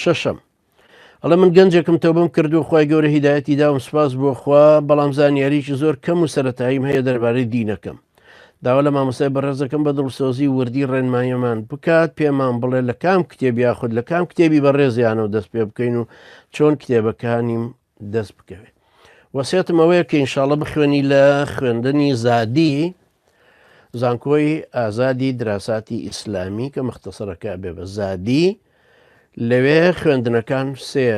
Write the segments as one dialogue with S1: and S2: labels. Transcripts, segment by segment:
S1: شەشەم، ئەڵێ من گەنجێکم تەوبەم کردووە خوای گەورە هیدایەتی داوم سوپاس بۆ خوا بەڵام زانیاریی زۆر کەم و سەرەتاییم هەیە دەربارەی دینەکەم داوا لە مامۆستای بەڕێزەکەم بە دڵسۆزی و وردی ڕێنماییمان بکات پێمان بڵێ لە کام کتێب یاخود لە کام کتێبی بەڕێزیانەوە دەست پێ بکەین و چۆن کتێبەکانیم دەست بکەوێ وەسێتم ئەوەیە کە ئینشااللە بخوێنی لە خوێندنی زادی زانکۆی ئازادی دراساتی ئیسلامی کە مەختەسەرەکە بێ بە زادی لەوێ خوێندنەکان سێ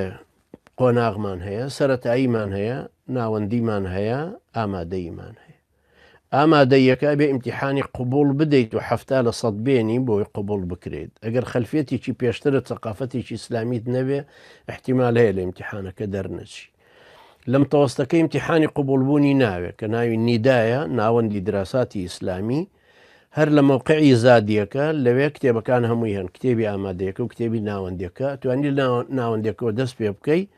S1: قۆناغمان هەیە سەتاییمان هەیە ناوەندیمان هەیە ئامادەیمان هەیە ئامادەییەکە ئەبێ ئیمتیحانی قبوڵ بدەیت و حەفتا لە سەد بێنی بۆی قبوڵ بکرێت ئەگەر خەلفیەتێکی پێشترت سەقافەتێکی ئیسلامیت نەبێ ئیحتیمال هەیە لە ئیمتیحانەکە دەرنەچی لەم تەوەستەکە ئیمتیحانی قبوڵبوونی ناوێت کە ناوی نیدایە ناوەندی دراساتی ئیسلامی هەر لە مەوقعی زادیەکە لەوێ کتێبەکان هەمووی هەن کتێبی ئامادەیەکە و کتێبی ناوەندەکە توانی ناوەندەکەەوە دەست پێ بکەیت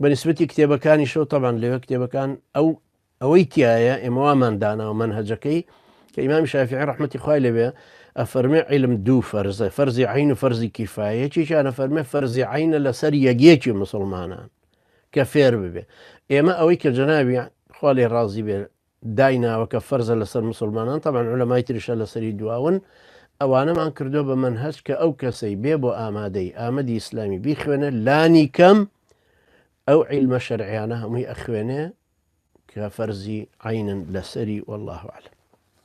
S1: بەنسبەتی کتێبەکانیشەوە تەبان لەوێ کتێبەکان ئەو ئەوەی تایە ئێمەوامان داناوە من هەجەکەی کە ئیمامی شافی ڕحمەتی خوای لەوێ ئەفەرمێ علم دوو فەرزە فەرزی عین و فەرزی کیفاەتێکیانە فەرمێ فەرزی عینە لەسەر یەکیەکی مسلمانان کە فێر ببێ ئێمە ئەوەی کە جەناوی خالی ڕازی بێ دایناوە کە فەرزە لەسەر موسڵمانان تەبعەن عولەمای تریشە لەسەری دواون ئەوانەمان کردوە بە مەنهەج کە ئەو کەسەی بێ بۆ ئامادەی ئامەدی ئیسلامی بیخوێنێ لانی کەم ئەو عیلمە شەرعیانە هەمووی ئەخوێنێ کە فەرزی عەینن لەسەری واللە اعلم.